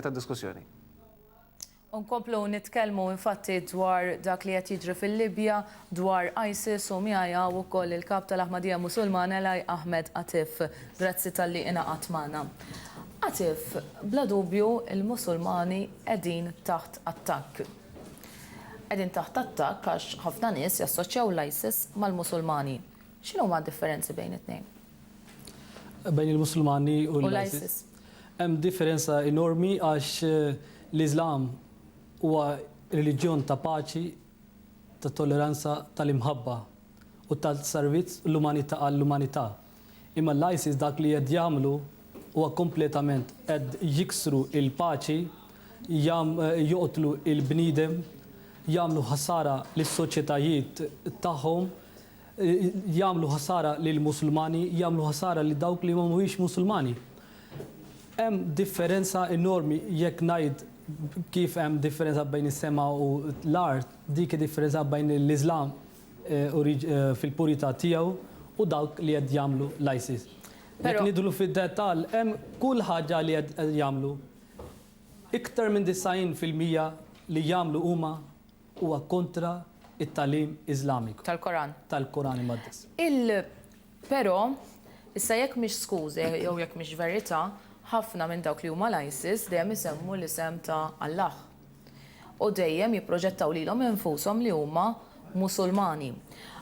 ta' diskussjoni. U nkomplu nitkellmu infatti dwar dak li qed jiġri fil-Libja, dwar ISIS u miegħi hawn ukoll il-Kap tal-Ahmadija Musulmana Elahi Ahmed Atif. Grazzi talli ingħaqadt magħna. Atif, bla dubju l-Musulmani qegħdin taħt attakk. Qegħdin taħt attakk għax ħafna nies jassoċjaw l-ISIS mal-Musulmani. X'inhuma d-differenzi bejn it-tnejn? Bejn il-Musulmani u l-ISIS. Hemm differenza enormi għax l-Iżlam huwa reliġjon ta' paċi, ta' tolleranza, tal-imħabba u ta' servizz l-umanità għall-umanità. Imma l-ISIS dak li qed jagħmlu huwa kompletament qed jiksru l-paċi, joqtlu l-bniedem, jagħmlu ħsara lis-soċjetajiet tagħhom, jagħmlu ħsara lill-Musulmani, jagħmlu ħsara lil dawk li ma mhumiex Musulmani. Hemm differenza enormi jekk ngħid kif hemm differenza bejn is-sema u l-art, dik id-differenza bejn l-Iżlam fil-purità tiegħu u dawk li qed jagħmlu l-ISIS. Jekk nidħlu fid-dettall, hemm kull ħaġa li qed jagħmlu. Iktar minn 90 fil-mija li jagħmlu huma Huwa kontra t-tagħlim Iżlamiku. Tal-Koran. Tal-Koran Imqaddes. Il. Però, issa jekk mhix skuża jew jekk mhix verità, ħafna minn dawk li huma l-ISIS dejjem isemmu l-isem ta' Allah. U dejjem jipproġettaw lilhom infushom li huma Musulmani.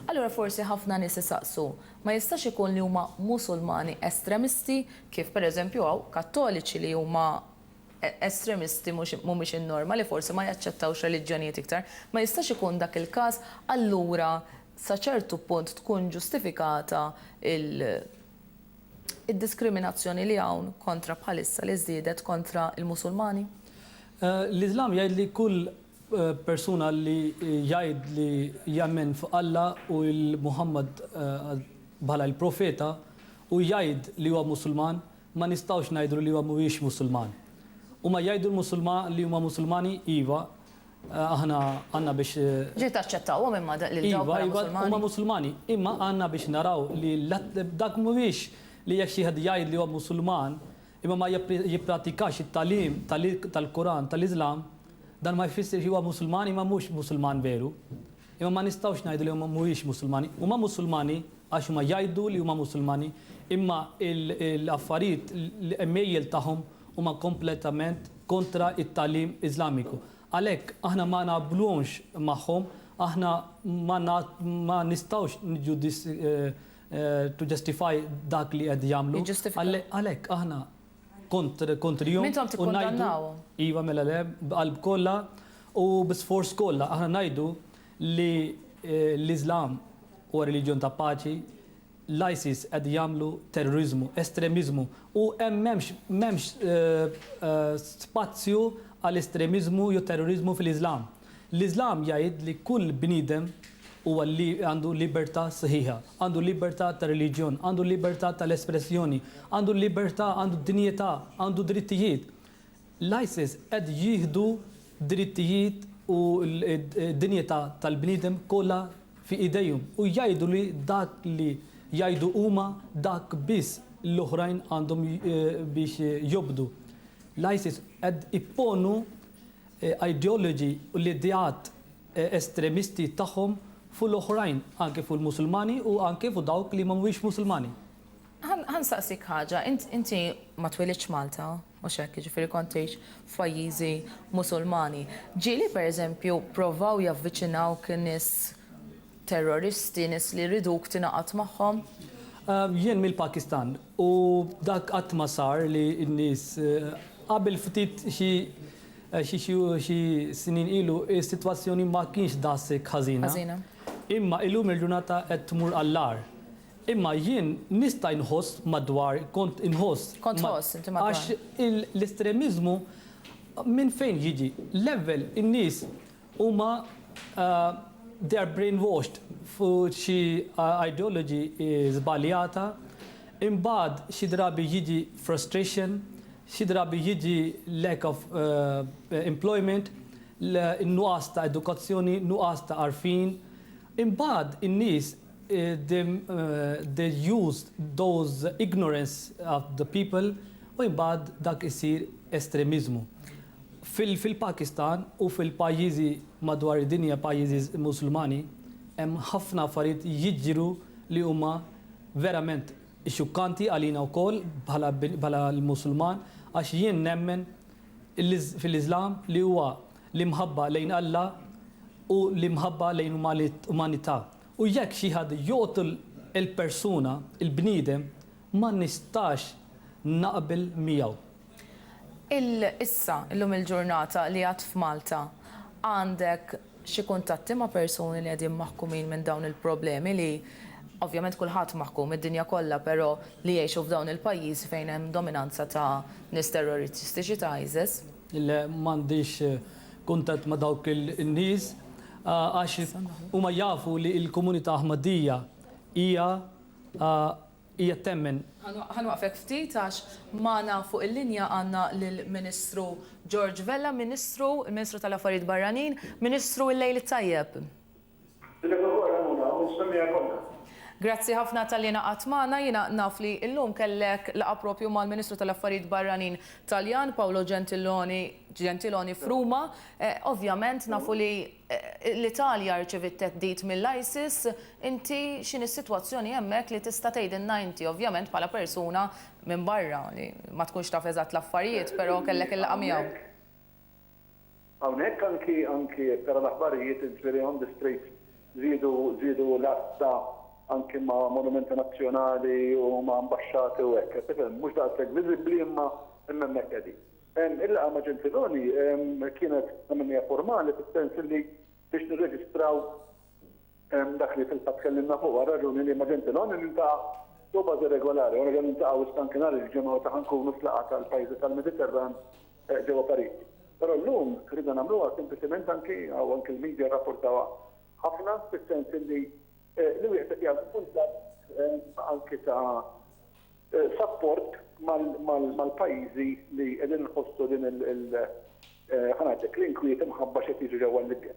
Allura forsi ħafna nies isaqsu, ma jistax ikun li huma Musulmani estremisti kif pereżempju hawn Kattoliċi li huma estremisti mhux mhumiex in-norma li forsi ma jaċċettawx reliġjonijiet iktar, ma jistax ikun dak il-każ allura sa ċertu punt tkun ġustifikata il id-diskriminazzjoni li hawn kontra bħalissa li żdiedet kontra l-Musulmani? L-Iżlam jgħid li kull persuna li jgħid li jemmen f'Alla u l-Muħammad bħala l-profeta u jgħid li huwa Musulman Ma nistgħux ngħidlu li huwa mhuwiex Musulman. Huma jgħidu l-Musulma li huma Musulmani, iva, aħna għandna biex. Ġieli taċċettawhom imma lil dawk bħala Musulmani? Iva, iva, huma Musulmani, imma għandna biex naraw li dak mhuwiex li jekk xi wieħed jgħid li huwa Musulman imma ma jippratikax it-tagħlim tal-Quran tal-Islam, dan ma jfissirx li huwa Musulman imma mhux Musulman veru. Imma ma nistgħux ngħidu li huma mhumiex Musulmani. Huma Musulmani għax huma jgħidu li huma Musulmani, imma l-affarijiet, l-għemejjel tagħhom huma kompletament kontra t-tagħlim Iżlamiku. Għalhekk aħna ma naqblux magħhom, aħna ma nistgħux niġġudis, to justify, dak li qed jagħmlu. Jiġġustifikaw. Għalhekk aħna kontrihom. Intom tikkundannawhom. Iva, mela le, b'qalb kollha u bi sforz kollha. Aħna ngħidu li l-Iżlam huwa reliġjon ta' paċi, l-ISIS qed jagħmlu terroriżmu, estremiżmu u hemm m'hemmx spazju għal estremiżmu jew terroriżmu fil-Iżlam. L-Iżlam jgħid li kull bniedem huwa għandu libertà sħiħa, għandu libertà ta' reliġjon, għandu libertà tal-espressjoni, għandu libertà, għandu d-dinjità, għandu drittijiet. L-ISIS qed jieħdu drittijiet u d-dinjità tal-bniedem kollha fi idejhom u jgħidu li dak li jgħidu huma dak biss l-oħrajn għandhom biex jobdu. L-ISIS qed ipponu ideology u l-ideat estremisti tagħhom fuq l-oħrajn, anki fuq il-Musulmani u anki fuq dawk li ma mhumiex Musulmani. Ħa nsaqsik ħaġa, int inti ma twilidtx f'Malta, mhux hekk, jiġifieri kont tgħix f'pajjiżi Musulmani. Ġieli pereżempju pprovaw javviċinawk nies terroristi, nies li jriduk tingħaqad magħhom? Jien mill-Pakistan, U dak qatt ma sar li n-nies, qabel ftit xi xi xi xi snin ilu s-sitwazzjoni ma kienx daqshekk ħażina. Ħażina. Imma illum il-ġurnata qed tmur għall-agħar. Imma jien nista' inħoss madwar, kont inħoss. Kont tħoss inti madwar. Għax l-estremiżmu minn fejn jiġi? L-ewwel in-nies. Huma they are brainwashed fuq xi ideology żbaljata, imbagħad xi drabi jiġi frustration, xi drabi jiġi lack of employment, nuqqas ta' edukazzjoni, nuqqas ta' għarfien. Imbagħad in-nies the used those ignorance of the people u imbagħad dak isir estremiżmu. Fil-Pakistan u fil-pajjiżi madwar id-dinja pajjiżi Musulmani hemm ħafna affarijiet jiġru li huma verament xukkanti għalina wkoll bħala l-Musulman għax jien nemmen fil-Iżlam li huwa l-imħabba lejn Alla u l-imħabba lejn umanità. U jekk xi ħadd joqtol il-persuna, il-bniedem, ma nistax naqbel miegħu. Il issa, illum il-ġurnata li għad f'Malta għandek xi kuntatti ma' persuni li qegħdin maħkumin minn dawn il-problemi li, ovvjament kulħadd maħkum, id-dinja kollha, però li jgħixu f'dawn il-pajjiżi fejn hemm dominanza ta' nies terroristiċi ta' ISIS? Le m'għandix kuntatt ma' dawk in-nies għax huma jafu li l-komunità Aħmadija hija hija temmen. Ħa nwaqqfek ftit għax magħna fuq il-linja għandna lill-Ministru George Vella, Ministru, il-Ministru tal-Affarijiet Barranin. Ministru, il-lejl it-tajjeb. Dilek ukoll Ramona u nsemmiha kollha. Grazzi ħafna talli ingħaqadt magħna. Jiena naf li llum kellek laqgħa proprju mal-Ministru tal-Affarijiet Barranin Taljan, Paolo Gentiloni Gentiloni f'Ruma. Ovvjament nafu li l-Italja rċeviet theddid mill-ISIS. Inti x'inhi s-sitwazzjoni hemmhekk li tista' tgħidilna inti, ovvjament bħala persuna minn barra li ma tkunx taf eżatt l-affarijiet, però kellek il-laqgħa miegħu. Hawnhekk anki anki jekk tara l-aħbarijiet int really on the straight żiedu żiedu l-għassa anki ma' monumenti nazzjonali u ma' ambaxxati u hekk qed tifhem mhux daqshekk viżibbli imma imma hemmhekk qegħdin. Il-laqgħa ma' Gentiloni kienet kemm kemm hija formali fis-sens illi biex nirreġistraw dak li fil-fatt tkellimna fuqu għar-raġuni li ma' Gentiloni niltaqa' fuq bażi regolari u nerġa' niltaqgħu issa anki nhar il-Ġimgħa meta ħa nkunu fl-laqgħa tal-pajjiżi tal-Mediterran ġewwa Pariġi. Però llum ridna nagħmluha sempliċement anki, u anki l-media rrapportawha ħafna, fis-sens illi li wieħed qed jagħmel kuntatt anki ta' sapport mal-pajjiżi li qegħdin inħossu din il-, ħa ngħidlek, l-inkwiet imħabba x'qed jiġri ġewwa l-Libja.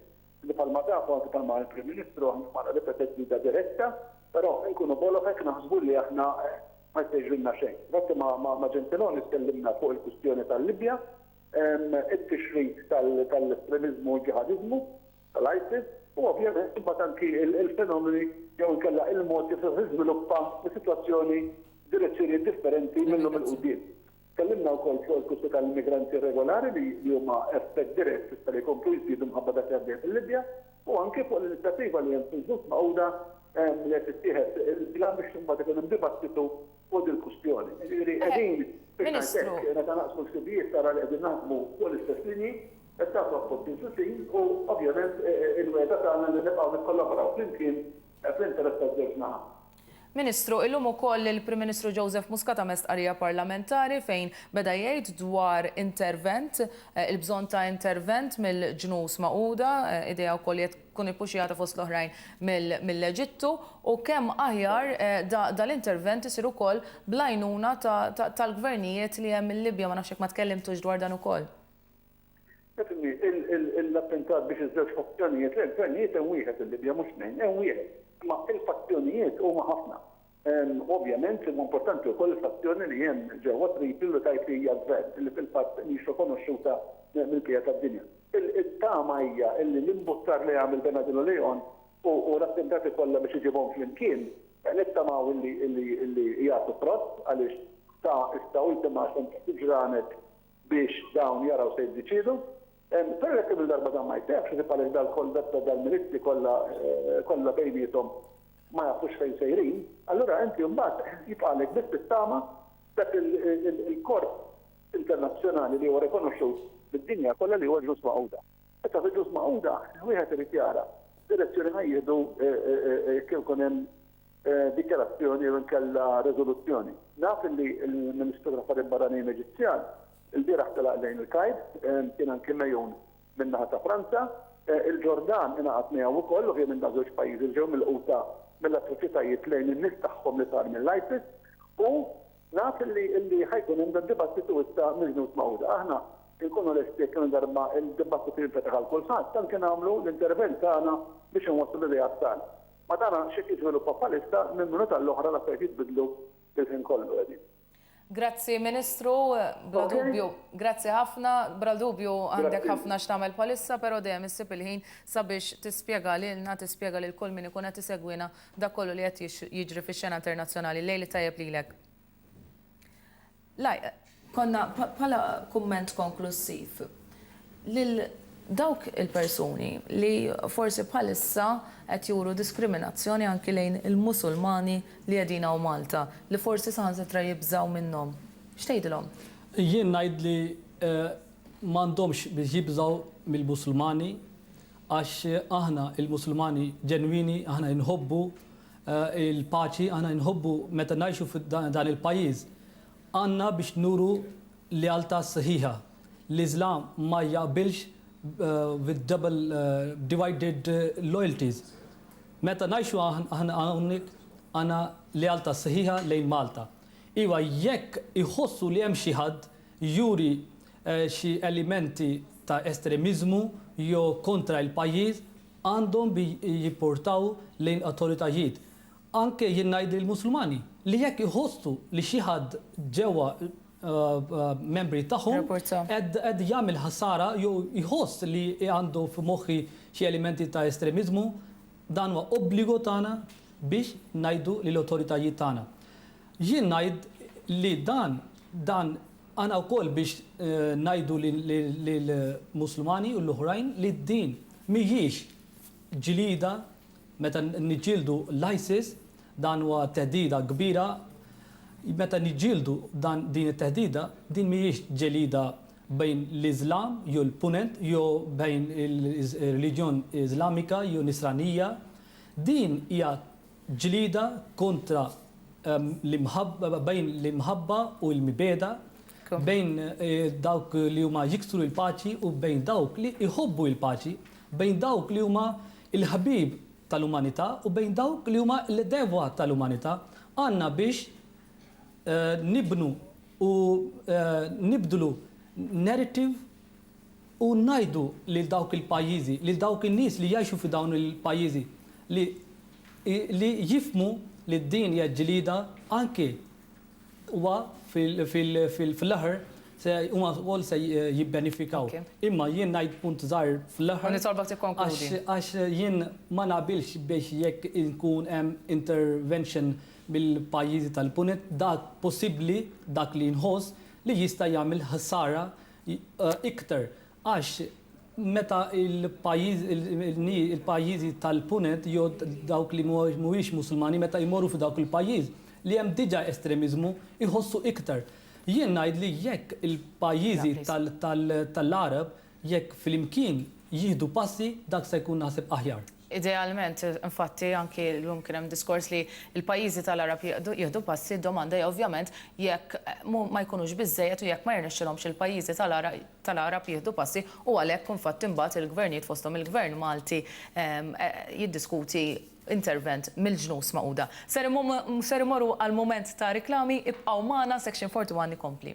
li bħalma taf u anki bħalma qal il-Prim Ministru aħna ma għandna l-ebda theddida diretta, però inkunu boloh hekk naħsbu li aħna ma jista' jiġrilna xejn. Difatti ma' Gentiloni tkellimna fuq il-kwistjoni tal-Libja, it-tixrid tal-estremiżmu u l-ġiħadiżmu tal-ISIS u ovvjament imbagħad anki l-fenomeni jew inkella il-mod kif se tiżviluppa s-sitwazzjoni f'direzzjonijiet differenti minn llum 'il quddiem. Tkellimna wkoll fuq il-flussi tal-immigranti irregolari li huma effett dirett s'issa li jkomplu jiżdiedu minħabba dak li għaddej fil-Libja u anki fuq l-inizjattiva li hemm fil-Ġnus Magħquda li qed tittieħed il-pjan biex imbagħad ikun hemm dibattitu fuq dil-kwistjoni. Jiġifieri qegħdin, biex ngħid hekk, meta naqsmu l-ħsibijiet tara li qegħdin naħdmu fuq l-istess linji, qed nagħtu appoġġ lil xulxin u ovvjament il-wegħda tagħna li nibqgħu nikkollaboraw flimkien fl-interess taż-żewġ naħat. Ministru, illum ukoll il-Prim Ministru Joseph Muscat għamel stqarrija parlamentari fejn beda jgħid dwar intervent, il-bżonn ta' intervent mill-Ġnus Magħquda, idea wkoll li qed tkun ippuxxjata fost l-oħrajn mill-Eġittu, u kemm aħjar dal-intervent isir ukoll bl-għajnuna tal-gvernijiet li hemm il-Libja, ma nafx jekk ma tkellimtux dwar dan ukoll. L-attentat biex iż-żewġ fazzjonijiet, le l-gvernijiet hemm wieħed il-Libja mhux tnejn, hemm wieħed, imma l-fazzjonijiet huma ħafna. Ovvjament huwa importanti wkoll il-fazzjoni li hemm ġewwa Tripli li tgħid li hija gvern, li fil-fatt mhix rikonoxxuta mill-bqija tad-dinja. It-tama hija li l-imbuttar li għamel Bernardino Leon u l-attentati kollha biex iġibhom flimkien, nittamaw li jagħtu frott għaliex sa issa ultima sentenza ġranet biex dawn jaraw se jiddeċiedu. Però jekk kemm-il darba dan ma jseħħx isib għaliex dal-koldetta, dal-milizzji kollha kollha bejniethom ma jafux fejn sejrin, allura inti mbagħad jibqagħlek biss tittama dak il-korp internazzjonali li huwa rikonoxxut mid-dinja kollha li huwa l-Ġnus Magħquda. Issa fil-Ġnus Magħquda wieħed irid jara x'direzzjoni ħa jieħdu jekk ikun hemm dikjarazzjoni jew inkella riżoluzzjoni. Naf illi l-Ministru tal-Affarijiet Barranin Eġizzjan ilbieraħ telaq lejn il-Kajr, kien anki megħun min-naħa ta' Franza. Il-Ġordan ingħaqad miegħu wkoll, ovvjament dawn żewġ pajjiżi li ġew milquta mill-atroċitajiet lejn in-nies tagħhom li sar mill-ISIS u naf illi ħa jkun hemm dad-dibattitu issa mill-Ġnus Magħquda. Aħna inkunu lesti jekk kemm-il darba d-dibattitu jinfetaħ għal kulħadd, anke nagħmlu l-intervent tagħna biex inwasslu l-ideat tagħna. Ma tara x'qed jiżviluppa bħalissa, minn minuta għall-oħra l-affarijiet jitbiddlu il-ħin kollu qegħdin. Grazzi Ministru, bla dubju. Grazzi ħafna, bla dubju għandek ħafna x'tagħmel bħalissa pero dejjem issib il-ħin sabiex tispjega lilna, tispjega lil kull min ikun qed isegwina dak kollu li qed jiġri fix-xena internazzjonali. Lejl it-tajjeb lilek. Konna, bħala kumment konklussiv, lil dawk il-persuni li forsi bħalissa qed juru diskriminazzjoni anki lejn il-Musulmani li qegħdin hawn Malta, li forsi saħansitra jibżgħu minnhom, x'tgħidilhom? Jien ngħid li m'għandhomx biex jibżgħu mill-Musulmani għax aħna l-Musulmani ġenwini, aħna inħobbu Il-paċi aħna inħobbu meta ngħixu f'dan il-pajjiż. Għandna biex nuru lealtà sħiħa. L-Iżlam ma jaqbilx with double, divided loyalties. Meta ngħixu aħna hawnhekk għandna lealtà sħiħa lejn Malta. Iva, jekk iħossu li hemm xi ħadd juri xi elementi ta' estremiżmu jew kontra l-pajjiż, għandhom bi jipportaw lejn awtoritajiet, anke jien ngħid lill-Musulmani, li jekk iħossu li xi ħadd ġewwa membri tagħhom qed jagħmel ħsara jew iħoss li għandu f'moħħi xi elementi ta' estremiżmu, dan huwa obbligo tagħna biex ngħidu lill-awtoritajiet tagħna. Jien ngħid li dan dan Għana wkoll biex ngħidu lill-Musulmani u l-oħrajn li din mhijiex ġlieda meta niġġieldu l-ISIS, dan huwa theddida kbira, meta niġġieldu dan din it-theddida, din mhijiex ġelida bejn l-Iżlam jew l-Punent jew bejn il-reliġjon Iżlamika jew Nisranija, din hija Ġlieda kontra bejn l-imħabba u l-mibegħda, bejn dawk li huma jiksru l-paċi u bejn dawk li jħobbu l-paċi, bejn dawk li huma l-ħbieb tal-umanità u bejn dawk li huma l-għedewwa tal-umanità. Għandna biex nibnu u nibdlu narrative u ngħidu lil dawk il-pajjiżi, lil dawk in-nies li jgħixu fi dawn il-pajjiżi li li jifhmu li din hija ġlieda anki huwa fil-aħħar se huma wkoll se jibbenefikaw. Imma jien ngħid punt żgħir fl-aħħar. U nitolbok tikkonkludi. Għax jien ma naqbilx biex jekk inkun hemm intervention mill-pajjiżi tal-Punent dak possibbli dak li nħoss li jista' jagħmel ħsara iktar għax meta l-pajjiżi tal-Punent jew dawk li mhumiex Musulmani meta jmorru f'dawk il-pajjiż li hemm diġà estremiżmu jħossu iktar. Jien ngħid li jekk il-pajjiżi tal-Għareb jekk flimkien jieħdu passi dak se jkun naħseb aħjar. Idealment, infatti, anki llum kien hemm diskors li l-pajjiżi tal-Għarab jieħdu passi, d-domanda hija ovvjament jekk ma jkunux biżżejjed u jekk ma jirnexxilhomx il-pajjiżi tal-Għarab jieħdu passi u għalhekk infatti mbagħad il-gvernijiet fosthom il-Gvern Malti jiddiskuti intervent mill-Ġnus Magħquda. Ser immorru għal mument ta' riklami, ibqgħu magħna, Section 41 ikompli.